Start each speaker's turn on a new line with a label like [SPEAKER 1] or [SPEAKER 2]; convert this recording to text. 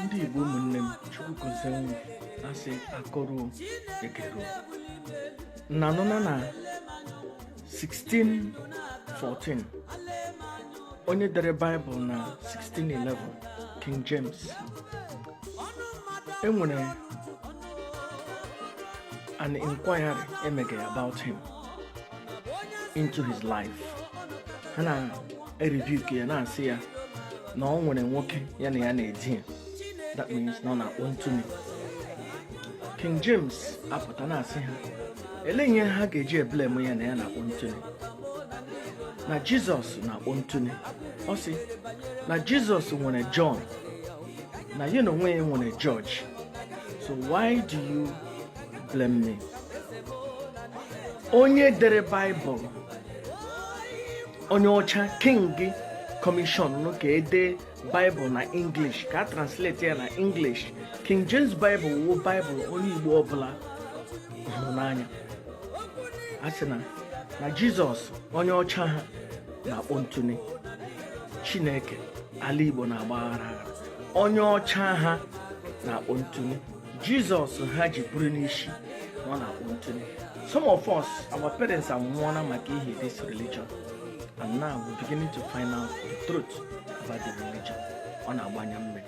[SPEAKER 1] ndị Igbo ụmụnne m Chukwu gozie unu asị akọrọ ekere na anụna na 1614 onye dere baịbụl na 1611 King James e nwere an inquiry e mege about him into his life ha na erebuke ya na-asị ya na ọ nwere nwoke ya na ya na-edi ya that means na ọ na-akpọ ntụni King James apụta na-asị ha elee ihe ha ga-eji eblame ya na ya na-akpọ ntụni na jizọs na-akpọ ntụni ọ sị na jizọs nwere jọn na ya na onwe ya nwere jọji so why do you blame me onye dere baịbụl onye ọcha king kọmishọn ka e dee baịbụl na english ka a translate ya na english king james baịbụl wụ baịbụl onye igbo ọbụla hụrụ n'anya a sị na na jizọs onye ọcha ha na-akpọ ntụni chineke ala igbo na-agba aghara aghara onye ọcha ha na-akpọ ntụni jizọs ha ji buru n'isi na ọ na-akpọ ntụni some of us our parents anwụọna maka ihi this religion and now we're beginning to find out the truth about the religion ọ na-agba anya mmiri